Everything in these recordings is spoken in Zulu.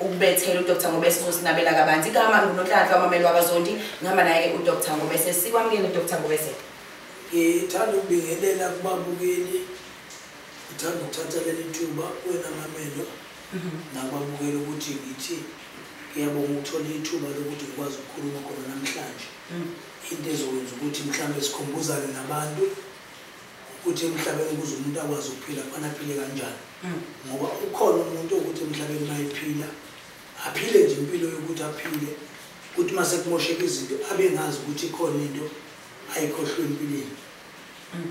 ukubethela udr ngobese uzosinabela kabanzi igama ngunonhlanhla wamameli wakazondi ngihamba naye-ke udr ngobese sikwamukele udr ngobese ngithanda ukubingelela kubabukeli ngithanda ukuthatha leli thuba wena mamelo mhm. nababukeli ukuthi ngithi ngiyabonga ukuthola ithuba lokuthi ngikwazi ukukhuluma khona namhlanje mhm. into ezokwenza ukuthi mhlawumbe sikhumbuzane nabantu ukuthi emhlabeni ukuze umuntu akwazi ukuphila kufana aphile kanjani hmm. ngoba ukhona umuntu okuthi emhlabeni mayephila aphile nje impilo yokuthi aphile ukuthi uma sekumosheka izinto abe ngazi ukuthi ikhona into ayikhohlwe empilweni hmm.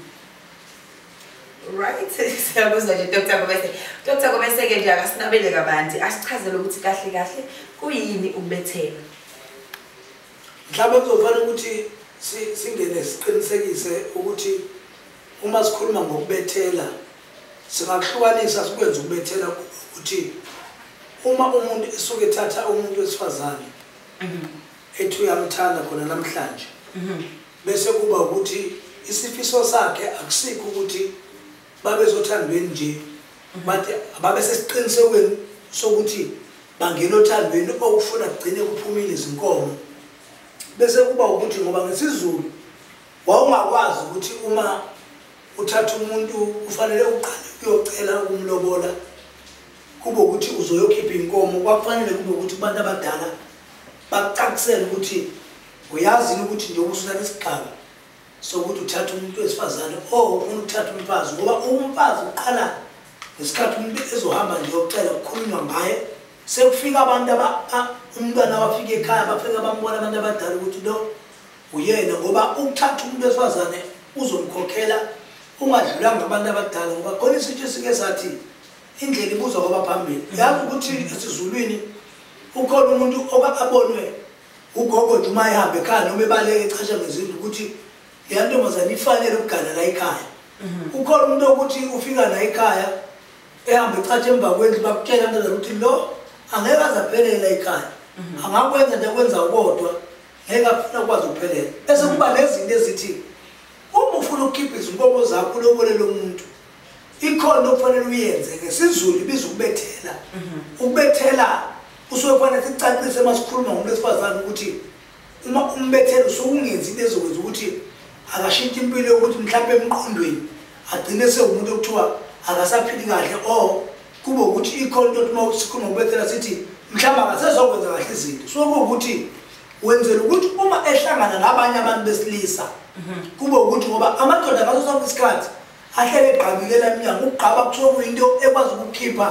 right siyakuzwa nje dr gobese dr gobese-ke nje akasinabele kabanzi asichazele ukuthi kahle kahle kuyini ukubethela Mhlawumbe kuzofanele ukuthi singene siqinisekise ukuthi uma sikhuluma ngokubethela singakuhlukanisa sikwenze ukubethela ukuthi uma umuntu esuke ethatha umuntu wesifazane mhm. ethi uyamthanda khona namhlanje mhm. bese kuba ukuthi isifiso sakhe akusikho ukuthi babezothandweni nje mhm. but babesesiqinisekweni sokuthi bangena othandweni okufuna kugcine kuphumile izinkomo bese kuba ukuthi ngoba ngesizulu wawungakwazi ukuthi uma uthatha umuntu ufanele uqale uyocela ukumlobola kube ukuthi uzoyokhipha inkomo kwakufanele kube ukuthi abantu abadala bacacisele ukuthi uyazini ukuthi njengoba usuthatha isigqaba sokuthi uthatha umuntu wesifazane o oh, ufuna ukuthatha umfazi ngoba umfazi uqala ngesikhathi umuntu ezohamba nje yokucela kukhulunywa ngaye sekufika abantu umntwana abafika ekhaya bafika bambona abantu abadala ukuthi lo uyena ngoba ukuthatha umuntu wesifazane uzomkhokhela ungadlulanga abantu abadala ngoba khona isitsho esike sathi indlela ibuzwa kwabaphambili yazi ukuthi esizulwini ukhona umuntu oka abonwe ugogo nje uma ehamba ekhaya noma ebaleke echasha ngezindlu ukuthi leya ntombazane ifanele ukugana la ekhaya mhm. ukhona umuntu okuthi ufika la ekhaya ehamba echatsha emva kwendlu bakutshela ntombazane ukuthi lo angeke aze aphelele la ekhaya mhm. angakwenza nje akwenza ukodwa ngeke afuna ukwazi ukuphelela bese kuba nezinto ezithi uma ufuna ukukhipha izinkomo zakho ulobolele umuntu ikhona okufanele uyenze ngesizulu ibiza ukubethela mhm. ukubethela usuke kufanele sicacise uma sikhuluma ngomuntu wesifazane ukuthi uma umbethela usuke ungenzi into ezokwenza ukuthi akashintshe impilo yokuthi mhlawumbe emqondweni agcine sewumuntu okuthiwa akasaphili kahle o kube ukuthi ikhona into uma sikhuluma ngokubethela sithi mhlawumbe akasezokwenza kahle izinto suke kuwukuthi wenzela ukuthi uma ehlangana nabanye abantu besilisa mhm. kube ukuthi ngoba amadoda ngaso sonke isikhathi ahlele egqabikela emnyango ukugqaba kuthiwa kuyinto ekwazi ukukhipha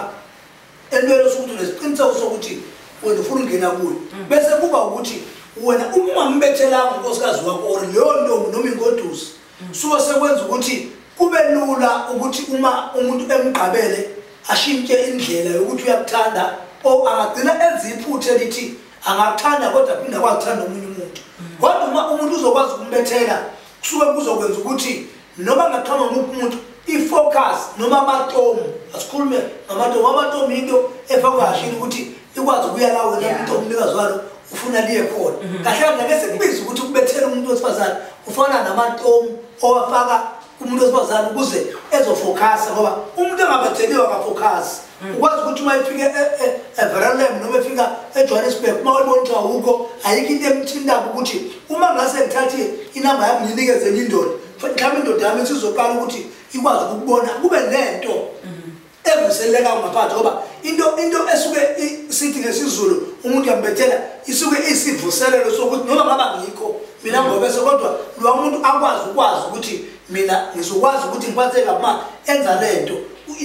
entweni osukuthi unesiqiniseko sokuthi wena ufuna ukungena kuyo mm. bese kuba ukuthi wena uma ungambethelanga unkosikazi wakho or leyo ntombi noma ingodusi mm. suke sekwenza ukuthi kube lula ukuthi uma umuntu emgqabele ashintshe indlela yokuthi uyakuthanda o angagcina enza iphutha elithi angakuthanda kodwa phinde akwakuthanda omunye umuntu mm. kodwa uma umuntu uzokwazi ukumbethela kusuke kuzokwenza ukuthi noma ngaqhama umuphi umuntu i-focus noma amatomu asikhulume ngamatomu amatomu yinto efakwa kashini ukuthi ikwazi ukuya la wena umuntu omnikazi walo ufuna liye khona mhm. kahle kahle ngeke sekubize ukuthi kubethele umuntu wesifazane ufana namatomu owafaka kumuntu wesifazane ukuze ezofokhasa ngoba umuntu engabetheliwe akafokhasi Mm. ukwazi ukuthi uma efika everalem noma efika ejohannesburg uma wayibona ukuthi awukho ayikho into emthintako ukuthi uma ngase ngithathe inamba yami ngiyinikeze enye indoda mhlawumbe indoda yami sizoqala ukuthi ikwazi ukukubona kube nento mm-hmm. evuselelekayo ngaphandle ngoba into into esuke sithi ngesizulu umuntu yambethela isuke isivuselelo sokuthi noma ngaba ngikho mina mm-hmm. ngobese kodwa lowa muntu akwazi ukwazi ukuthi mina ngizokwazi ukuthi ngiphatheke uma enza lento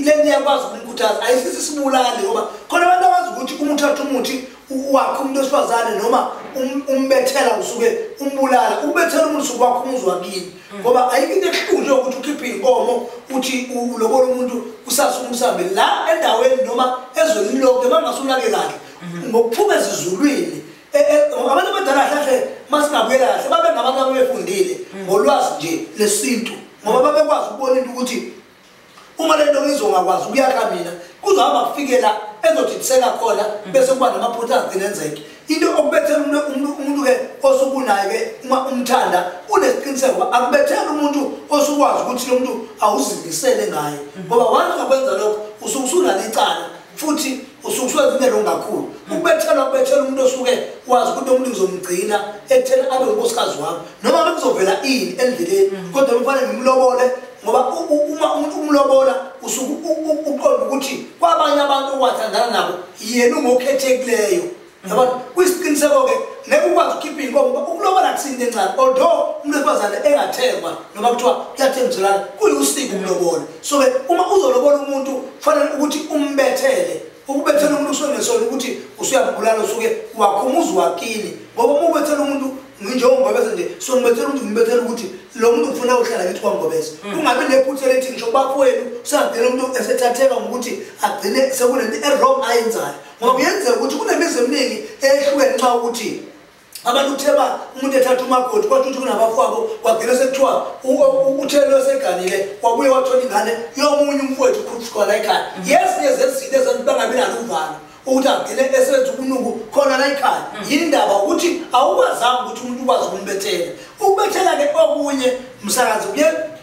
lento iyakwazi ukumkhuthaza ayisisi sibulali ngoba khona abantu abazi ukuthi uma uthatha umuthi wakhe umuntu wesifazane noma um-, umbethela usuke umbulala ukubethela umuntu usuke wakho umuzi wakini mm. ngoba ayikho into ehlunje ukuthi ukhiphe iy'nkomo uthi ulobola umuntu usase umsambe la endaweni noma ezweni lonke uma ngingase unake kahle mm-hmm. ngokuphuma ezizulwini Eh, eh, abantu abadala kahle masingabuyela kahle babe ngabantu abebefundile mm. ngolwazi nje lesintu ngoba babekwazi ukubona into ukuthi uma lento ngizongakwazi ukuyaka mina kuzohamba kufikela ezodidiseka khona mm. bese kuba namaphutha agcine enzeke into okubethela umuntu-ke osukunayo-ke uma umthanda unesiqiniseko uba akubethela umuntu osukwazi ukuthi lo muntu awuzimisele ngaye mm. ngoba wanza kwenza lokho usuke usunalo icala futhi usuke usuwenza into kakhulu ukubethela ukubethela umuntu osuke wazi ukuthi omuntu ngizomgcina ekutheni abe unkosikazi wami noma bekuzovela ini endleleni mm. kodwa kufanele ngimlobole ngoba uma umuntu umlobola usuke uqonda ukuthi kwabanye abantu owathandana nabo yena ungokhethekileyo yabona kuyisiqiniseko-ke ngeke ukwazi ukukhipha iy'nkomo uba ukulobola kusinto encane although umuntu wesifazane engathengwa noma kuthiwa kuyathengiselana kuyusiko ukulobola so-ke uma uzolobola umuntu kufanele ukuthi umbethele ukubethela umuntu kusuke ngesona ukuthi usuyabulala usuke wakhumuza wakini ngoba uma ubethela umuntu njengongobeza nje so ngibethela umuntu ngibethela ukuthi lo muntu ngifuna uhlala kithi kwangobeza mm. kungabi nephutha elithi ngisho kubafowenu usangidela umuntu esethatheka ngokuthi agcine sekunento erong ayenzayo ngoba kuyenzeka ukuthi kunemizi eminingi eyehlukene nxa ukuthi abantu kutheba umuntu ethatha umakoti kwathi ukuthi kunabafowabo kwagcina sekuthiwa uthelo eseganile kwabuye wathola ingane yomunye umfowethu ukhulusikhona ekhaya yezinye zezinto ezentu bangabi nalo uvalo ukuthi agcine esenza ubunuku khona la ekhaya mm. yindaba ukuthi awukwazanga ukuthi umuntu ukwazi ukumbethela ukubethela-ke okunye msakazi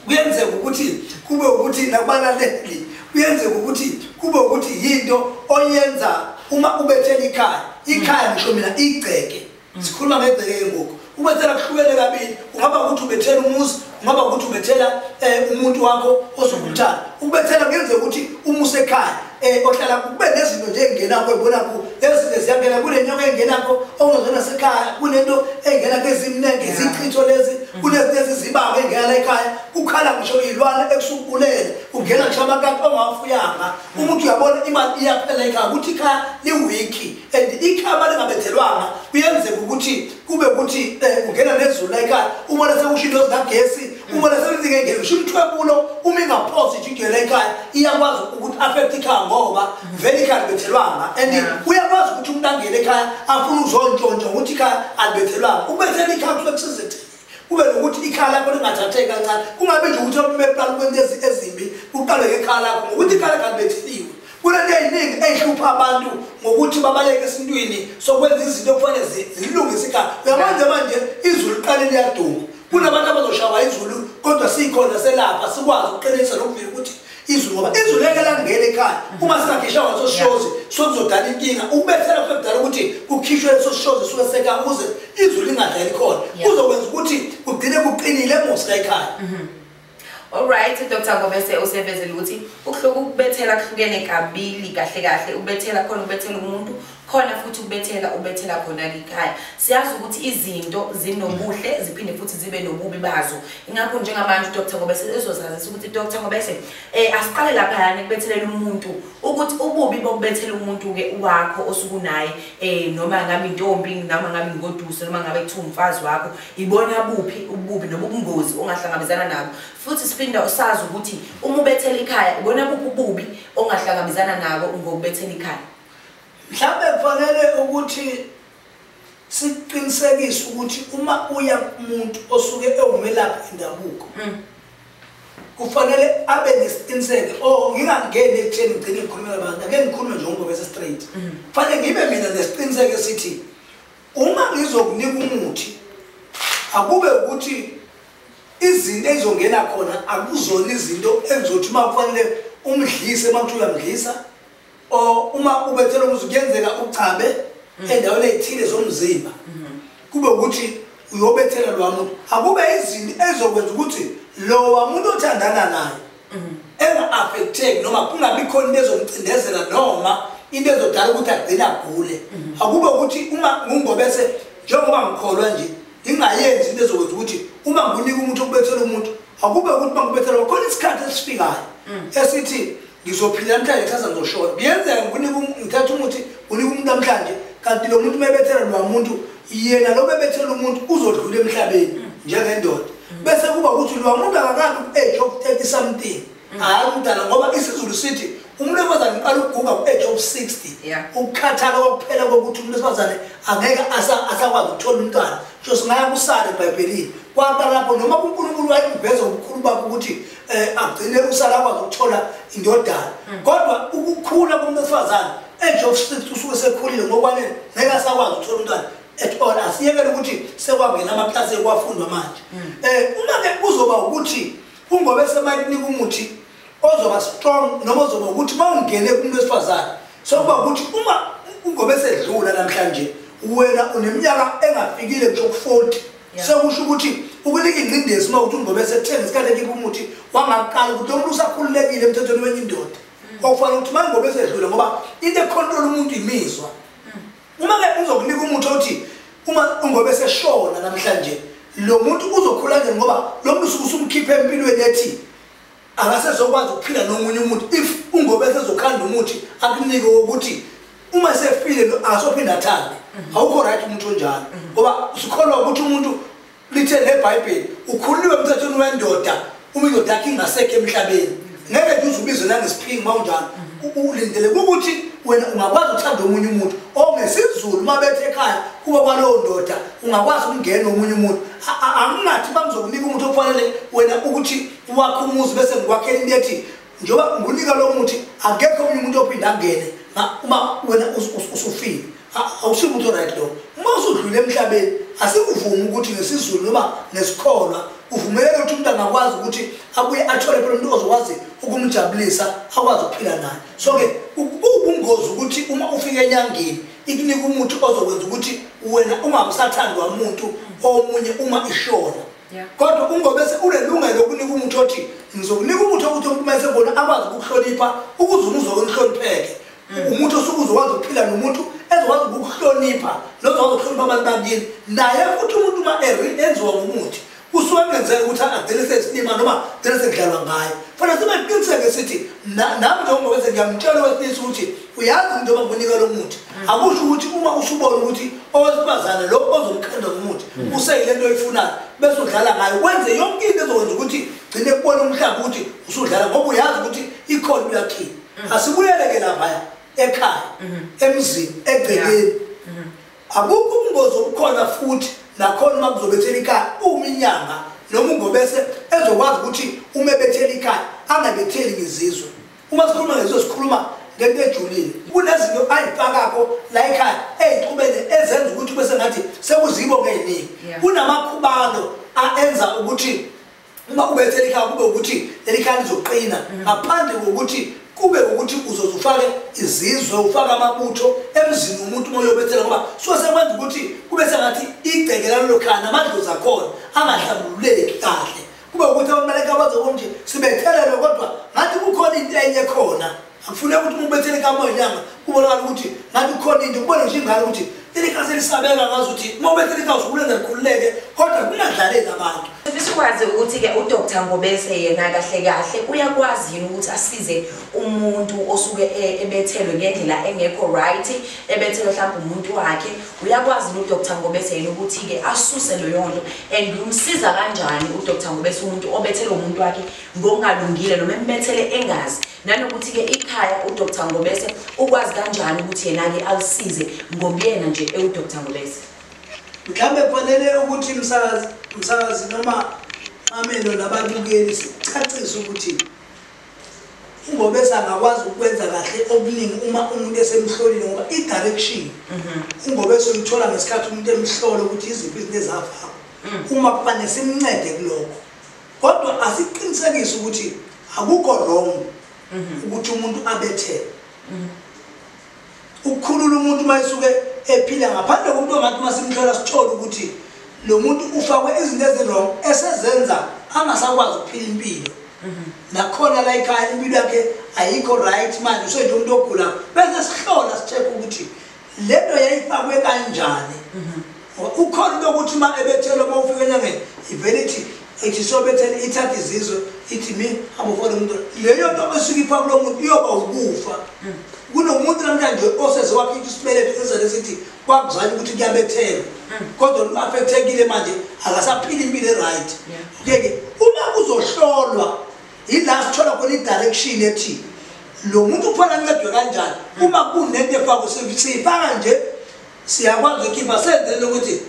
kuyenzeka ukuthi kube ukuthi nakubalaleli kuyenzeka ukuthi kube ukuthi yinto oyenza uma ubethela ikhaya ikhaya ngisho mina igceke sikhuluma ngegceke-ke ngoku ubethela kuhlukene kabili ungaba ukuthi ubethela umuzi ungaba ukuthi ubethela um umuntu wakho ozokumthanda ukubethela kuyenzeka ukuthi umuse ekhaya um ohlala kube nezinto nje engenakho ebonakho ezinto ziyangena kule nyoko engenakho ongezona sekhaya kunento engenakho ezimnenge zichitho lezi kunezinto ezizibanga engena la ekhaya ukhala ngisho iy'lwane ekusukubulele ungena ngisho amakati ongawafuyanga umuntu uyabona imali iyaphela ikhaya ukuthi ikhaya liwiki and ikhaya uma lingabethelwanga kuyenzeka ukuthi kube ukuthi um ungena nezulu la ikhaya ubona sekusho into zikagesi ubona sezingengeni usho umthwebulo uma ingaphosi ijidwe la ikhaya iyakwazi ukuthi affect ikhaya ngoba vele ikhaya libethelwanga and uyakwazi ukuthi umuntu angene ekhaya afuna uzontshontsha ukuthi ikhaya alibethelwanga ukubethela ikhaya kusuke kusizethela kube nokuthi ikhaya lakho lingathatheki kancane kungabe nje ukuthi abume eqala kwento ezimbi kuqale ngekhaya lakho ngokuthi ikhaya lakho alibethisiwe kunento eyiningi eyihlupha abantu ngokuthi babaleke esintwini sokwenza izinto okufanele zilungise ikhaya uyamanje manje izulu liqale liyaduma kunabantu abazoshawa izulu kodwa sikhona selapha sikwazi ukuqinisa nokuvila ukuthi izwi ngoba izwi leke langena ekhaya mhm. uma singakhishwa ngasoshozi sokuzodala inkinga ukubethela kube kudala ukuthi kukhishwe lesoshozi suke seka ukuze izwi lingadlali khona kuzokwenza ukuthi kugcine kuqinile emusa ekhaya mhm. Alright Dr Ngobese usevezela ukuthi ukuhluka ukubethela kuhlukene kabili kahle kahle ubethela khona ubethela umuntu khona futhi ukubethela ubethela khona likhaya siyazi ukuthi izinto zinobuhle ziphinde futhi zibe nobubi bazo ingakho njengamanje udr ngoba ezozazisa ukuthi udr ngoba ese um eh, asiqale laphayana ekubethelela umuntu ukuthi ububi bokubethela umuntu-ke wakho osukunaye um noma ngabe intombi noma ngabe ingoduso noma ngabe kuthiwa umfazi wakho ibona buphi ububi noma ubungozi ongahlangabezana nabo futhi siphinde usazi ukuthi uma ubethela ikhaya ibona buphi ububi ongahlangabezana nabo ngokubethela ikhaya Mhlawumbe kufanele ukuthi siqinisekise ukuthi uma uya kumuntu osuke ewumelaphi indabuko mm. kufanele abe nesiqiniseko o oh, ngingangeni ekutheni ngigcine ngikhulume nabantu ake ngikhulume nje ngoba bese straight mm. kufanele ngibe mina nesiqiniseko esithi uma ngizokunika umuthi akube ukuthi izinto ezongena khona akuzona izinto engizothi uma kufanele umdlise uma kuthiwa uyamdlisa or uma ubethela ukuthi kuyenzeka uchabe mm. endaweni ethile zomzimba mm-hmm. kube ukuthi uyobethela lo muntu akube izinto ezokwenza ukuthi lowa muntu othandana naye mm-hmm. enga-affecteki noma kungabi khona into ezomcindezela noma into ezodala ukuthi agcine agule mm-hmm. akube ukuthi uma ngungobese njengoba ngikholwa nje ngingayenzi into ezokwenza ukuthi uma ngiwunika umuntu okubethela umuntu akube ukuthi uma ngibethela khona isikhathi esifikayo mm. esithi ngizophila namhlanje kusasa ngizoshona kuyenzeka ngikunike um-, ngithatha umuthi unike umuntu namhlanje kanti lo muntu mebethela lwa muntu yena lo mebethela umuntu uzodlula emhlabeni mm. njengendoda mm. bese kuba ukuthi lwa muntu akakabi ku-age of thirty something mm. hhayi umdala ngoba isizulu sithi umuntu wesifazane uqala ukuguga ku-age of sixty ukukhathala kokuphela kokuthi umuntu wesifazane angeke asakwazi ukuthola umntwana so singaya kusale ebhayibhelini kwaqala lapho noma kunkulunkulu wayekuveza ubukhulu bakho ukuthi eh agcine usala kwazi ukuthola indodana mm. kodwa ukukhula komuntu wesifazane age of 6 usuke sekhulile ngokwanele ngeke asakwazi ukuthola umntwana at all asiyekele ukuthi sekwangena amaklasi ekwafundwa manje mm. eh uma ke kuzoba ukuthi ungobe semayinika umuthi ozoba strong noma ozoba ukuthi mawungene kumuntu wesifazane sokuba ukuthi uma ungobe sedlula namhlanje wena uneminyaka engafikile nje ku 40 sekusho ukuthi ukunika ingcindezi uma ukuthi ungobe sekuthenge isikhathi ekibe umuthi wangaqala ukuthi lo muntu usakhululekile emthethweni wenye indoda mm. okufanele ukuthi uma ngobe sedlule ngoba into ekhontrola umuntu imizwa mm. uma-ke uzokunika umuthi othi uma ungobe seshona namhlanje lo muntu uzokhula nje ngoba lo muntu usuke usumkhiphe empilweni ethi akasezokwazi ukuphila nomunye umuntu if ungobe sezokhanda umuthi akunike wokuthi uma sefile lo asophinde athande mhm. awukho right umuntu onjalo mhm. ngoba sikholwa ukuthi umuntu lithe nebhayibheli ukhululiwe emthethweni wendoda uma indoda yakhe ingasekho emhlabeni ngeke nje uze ubizwe nangesiphingi uma unjalo mhm. ulindele ukuthi wena ungakwazi ukuthanda omunye umuntu ongesizulu uma bethe ekhaya kuba kwalowo ndoda ungakwazi ukungena omunye umuntu angingathi bakuzokunika umuntu okufanele wena ukuthi uwakhe umuzi bese ngikwakhela into ethi njengoba ngunika lo muthi akekho omunye umuntu ophinde angene uma wena usufile awusiyo umuntu oright lo uma usudlule emhlabeni asikuvumi ukuthi ngesizulu noma nesikholwa uvumeleke ukuthi umuntu angakwazi ukuthi abuye athole phela umuntu ozokwazi ukumjabulisa akwazi ukuphila naye so-ke ubungozi ukuthi uma ufika enyangeni ikunika umuthi ozokwenza ukuthi wena ungabusathandi wamuntu omunye uma ishona kodwa ungobese unelungelo lokunika umuntu othi ngizokunika umuntu okuthi umkumese bona akwazi ukukuhlonipha ukuze umuzi wakonihlonipheke hmm. umuntu osuke uzokwazi ukuphila nomuntu ezokwazi ukukuhlonipha nozokwazi ukuhlonipha abantu bakini naye futhi umuntu uma enziwa ngomuthi usuke kungenzeka ukuthi agcine sesilima noma gcine sekudlalwa ngayo fana sibe qiniseke sithi nami njengoba bese ngiyamtshela owesilisa ukuthi uyazi umuntu oba kunika lo muthi akusho ukuthi uma usubona ukuthi owesifazane lo ozomqhenda ngomuthi hmm. useyile nto oyifunayo bese udlala ngayo wenze yonke into ezokwenza ukuthi gcine kubona umhlaba ukuthi usudlala ngoba uyazi ukuthi ikhona uyakhini hmm. asibuyeleke laphaya ekhaya hmm. emzini egcekeni akukho ubungozi obukhona futhi nakhona uma kuzobethela ikhaya uma inyanga noma ungobese ezokwazi ukuthi uma ebethela ikhaya angabetheli ngizizwe uma sikhuluma ngeso sikhuluma ngento ejulile kunezinto ayifakako la ekhaya eyixubene ezenza ukuthi kube sengathi sekuzibo ngeyiningi kunamakhubalo aenza ukuthi uma ubethe likhaya kube ukuthi leli khaya lizoqina mm. ngaphandle kokuthi kube ukuthi uzoze ufake izizwe ufake amabutho emzini umuntu uma uyobethela ngoba suke sekwenza ukuthi kube sengathi igceke lalolo khaya namadlozi akhona angahlambululeki kahle kube ukuthi abantu balekabaze konje sibethelelwe kodwa ngathi kukhona into enye khona akufuneka ukuthi umuntu bethele kamoya inyanga kubonakala ukuthi ngathi kukhona into kubone nje ingane ukuthi ilikhazi elisabeka ngazi ukuthi uma ubethele ikhazi ukulenza likhululeke kodwa kungadlaleki abantu sikwazi ukuthi-ke udr ngobese yena kahle kahle uyakwazi yini ukuthi asize umuntu osuke e-, ebethelwe ngendlela engekho right ebethelwe mhlawumbe umuntu wakhe uyakwazi lo Dr Ngobese yena ukuthi ke asuse leyo nto and umsiza kanjani u Dr Ngobese umuntu obethele umuntu wakhe ngokungalungile noma embethele engazi nanokuthi ke ikhaya u Dr Ngobese ukwazi kanjani ukuthi yena ke alisize ngobuyena nje ewu Dr Ngobese mhlambe kufanele ukuthi msakazi msakazi noma amelo nababukeli sicacise ukuthi ingoba esangakwazi ukwenza kahle okuningi uma umuntu esemhlolile ngoba i-direction mhm. ingoba esoyithola ngesikhathi umuntu emhlole ukuthi iziphi izinto ezavakho mm. uma kubane simncede kulokho kodwa asiqinisekise ukuthi akukho wrong mhm. ukuthi umuntu abethele mhm. Ukukhulula umuntu uma esuke ephila ngaphandle komuntu ongathi uma simhlola sithole ukuthi lo muntu ufakwe izinto ezirong esezenza angasakwazi ukuphila impilo mhm. nakhona la ikhaya impilo yakhe ayikho right manje usenje umuntu ogula bese sihlola sithekha ukuthi le nto yayifakwe kanjani mhm. Ngoba ukhona into yokuthi uma ebethelwa uma ufika enyangeni ivele ithi ithi sobethela ithatha izizwe ithi mi amufone umuntu leyo nto esuke ipha kulo muntu iyoba ukufa hmm. kunomuntu namhlanje oseze wakhipha isibeletho esizane sithi kwakuzanye ukuthi kuyabethelwa hmm. kodwa lu-afekthekile manje akasaphili impilo e-right okeke uma kuzohlolwa yila sithola khona i-direction ethi lo muntu kufanele ancedwe kanjani hmm. uma kunento efakwe siyifaka nje siyakwazi ukukhipha senzeni ukuthi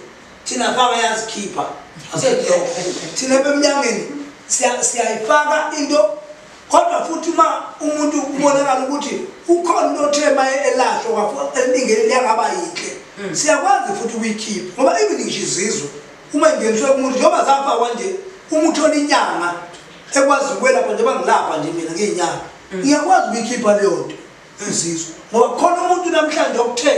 thina faka yazikhipha asenhloko thina bemnyangeni siyayifaka into kodwa futhi uma umuntu ubonakala ukuthi ukhona into othe ma elasho elingeni liyangaba yinhle hmm. siyakwazi futhi ukuyikhipha ngoba even ngisho izizwe uma ingeniswe kumuntu njengoba zafakwa nje uma uthola inyanga ekwazi ukwelapha njengoba ngilapha nje mina ngeyinyanga hmm. ngiyakwazi ukuyikhipha leyo nto insizwa ngoba khona umuntu namhlanje okuthe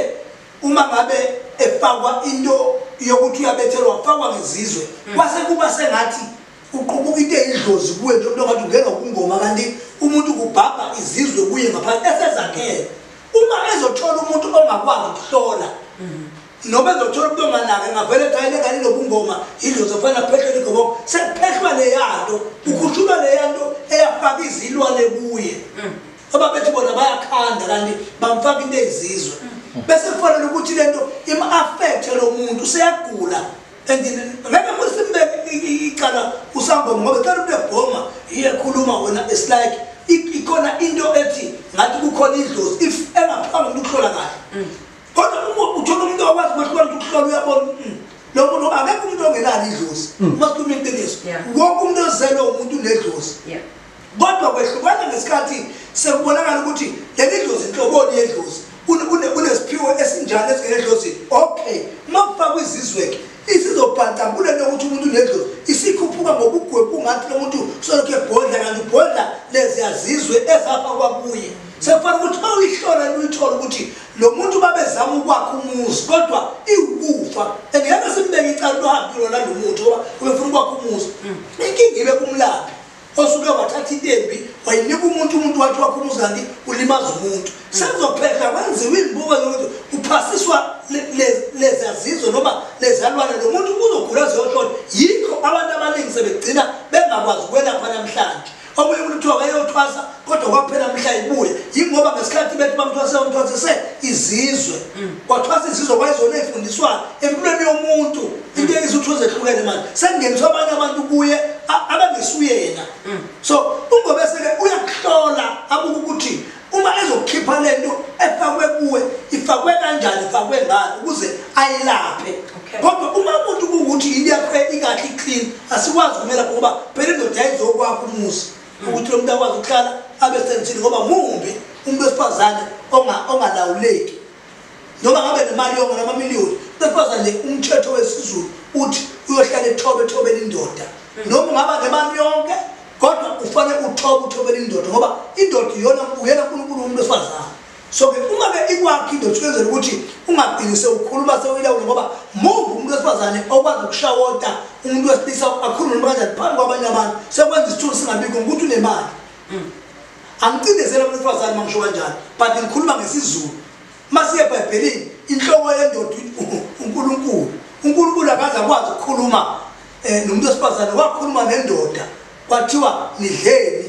uma ngabe efakwa into yokuthi uyabethelwa wafakwa ngezizwe mm. kwase kuba sengathi uqubuka into eyidlozi kuwe nje umuntu ongathi ungena ukungoma kanti umuntu kubhabha izizwe kuye ngaphansi esezakhele uma ezothola umuntu ongakwazi ukuhlola mm-hmm. noma ezothola umuntu onganake ngavele thayile kani nobungoma yidlozi ofana kuphehlwa igoboko sekuphehlwa leyanto mm. ukhushulwa leyanto eyafaka izilwane kuye mm. ababethi bona bayakhanda kanti bamfaka into ezizwe mm. bese kufanele ukuthi lento im-affecthe lo muntu useyagula and ngeke kusimbeke icala usangoma ngoba cela umuntu ebhoma iyekhuluma wena it's like ikhona into ethi ngathi kukhona idlozi if engaphanga umuntu ukuhlola kahle mm. kodwa uma uthola umuntu okwazi ukuhlola ukuthi ukuhlola uyabona mm, lo muntu akekho umuntu ongenalo idlozi uma sikhuluma iqiniso wonke umuntu ozelwe umuntu unedlozi Kodwa kwehlukana ngesikhathi sekubonakala ukuthi leli dlozi inhloboni yedlozi kunesiphiwo esinjani esingenedlozi okay uma kufakwa izizweke isizobhantambula nokuthi umuntu unedlozi isikhuphuka ngobugwebu ungathi lo muntu solokhu ebhodla kanti ubhodla leziyazizwe ezafa kwakuye sefana ukuthi ma uyihlola luyithola ukuthi lo muntu babezama ukwakha umuzi kodwa iwukufa and ngeke simbeke icala luhambi lona lo muntu ngoba ubefuna ukwakha umuzi hmm. inkinga ibe kumlaphi osuke wathatha into embi wayinika umuntu umuntu wathi wakho umuzali ulimaza umuntu sekuzophehla kwenziwa izibuko zokuthi uphasiswa lezazizwe noma lezalwane lo muntu uzogula ziyohlona yikho abantu abaningi sebegcina bengakwazi ukwelapha namhlanje omunye umuntu kuthiwa wayeyothwasa kodwa kwaphela mhla ibuye yingoba ngesikhathi bethi bamthwasela umthwasise izizwe mm. wathwasa izizwe kwayizona eyifundiswayo empilweni yomuntu mm. into izitho zehlukene manje sekungeniswa abanye abantu kuye abangesuye yena mm. so ungobeseke uyakuhlola abuke ukuthi uma ezokukhipha le nto efakwe kuwe ifakwe kanjani ifakwe ngani ukuze ayilaphe kodwa uma umuntu kuwukuthi yini yakho ikahle iclean asikwazi kumela ngoba phela indoda yayizokwakho umuzi ukuthi lo muntu akwazi ukuhlala abe sensini ngoba mumbi umuntu wesifazane ongalawuleki noma ngabe nemali yonke namamiliyoni besifazane nje umthetho wesizulu uthi uyohlala ethobe ethobela indoda mm. noma ungaba nemali yonke kodwa ufanele uthobe uthobela indoda ngoba indoda iyona uyena unkulunkulu umuntu wesifazane so ke uma ke ikwakho indoda ukwenzela ukuthi ungagcini sewukhuluma sewuyilawula ngoba move umuntu wesifazane okwazi ukushawota umuntu wesilisa akhulume noma kanjani phambi kwabanye abantu sekwenza isithulu singabikho ngokuthi unemali mm. angicindezela umuntu wesifazane uma ngisho kanjani but ngikhuluma ngesizulu uma siye ebhayibhelini inhloko yendoda unkulunkulu unkulunkulu akaze akwazi ukukhuluma um nomuntu wesifazane wakhuluma nendoda kwathiwa nidleni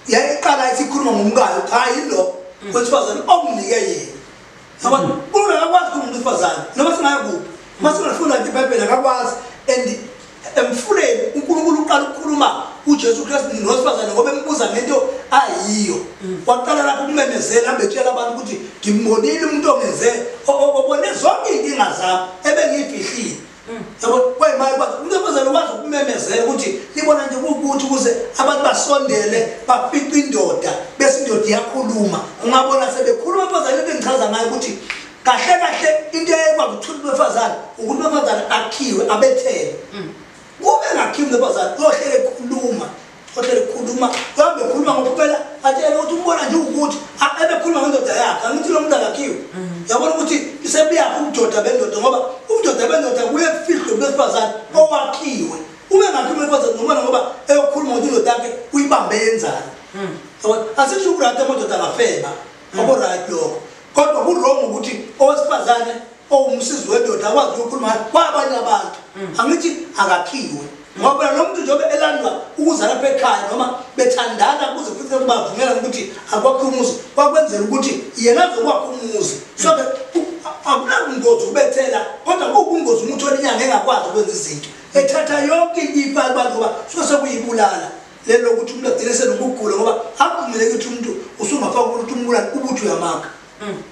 yayiqala ithi ikhuluma ngomkayo cha yilo mm. wesifazane okunike yena ngoba mm. umuntu akakwazi kumuntu wesifazane noma singayakuphi uma singafunda nje ibhayibheli akakwazi and emfuleni unkulunkulu uqala ukukhuluma ujesu kristu nosifazane ngoba embuza ngento ayiyo mm. waqala lapho ukumemezela ambetshela abantu ukuthi ngimbonile umuntu ongenze obone zonke iy'nkinga zami ebengiyifihlile yabo kwayimali kwathi umuntu wesifazane ukwazi ukumemezela ukuthi libona nje kuwukuthi ukuze abantu basondele bafice indoda bese indoda iyakhuluma ungabona sebekhuluma abazali bengichaza ngayo ukuthi kahle kahle into eyekwazi ukuthuthi befazane ukuthi befazane akhiwe abethele mm. kube ngakhiwe befazane uyohlele ekhuluma Kodwa khuluma, kambe khuluma ngokuphela atshele ukuthi umbona nje ukuthi ebekhuluma ngendoda yakhe angithi lo muntu akakhiwe. Mhm. Yabona ukuthi isebuyaphi ubudoda bendoda ngoba ubudoda bendoda kuye kufihlwe besifazane owakhiwe. Uma engakhiwe kwazana nomona ngoba eyokhuluma ukuthi indoda yakhe uyibambe yenzani. Mhm. Yabona asisho ukurata amadoda angafeba. Mhm. Abo right lokho. Kodwa ku wrong ukuthi owesifazane owumsizi wendoda akwazi ukukhuluma kwabanye abantu mm. angithi akakhiwe ngoba phela lo muntu njengoba elandwa ukuza lapha ekhaya noma bethandana kuze futhi kubavumela ukuthi akwakhe umuzi kwakwenzela ukuthi yena azokwakha umuzi so ke akunabungozi ukubethela kodwa kuwubungozi umuntu olinyanga engakwazi ukwenza izinto ethatha yonke ifa abantu ngoba suke sekuyibulala lelo lokuthi umuntu agcine senokugula ngoba akuvumeleki ukuthi umuntu usungafaka ukuthi umbulala ubuthi uyamaka mm.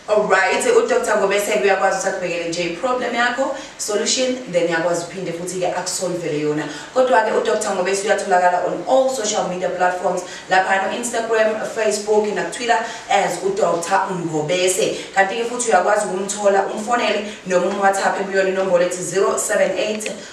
Alright, uDr Ngobese uyakwazi ukuthi akubhekele nje problem yakho, solution then yakwazi uphinde futhi ke akusolvele yona. Kodwa ke uDr Ngobese uyatholakala on all social media platforms lapha no Instagram, Facebook na Twitter as uDr Ngobese. Kanti ke futhi uyakwazi ukumthola umfonele noma umWhatsApp kuyona inombolo ethi 078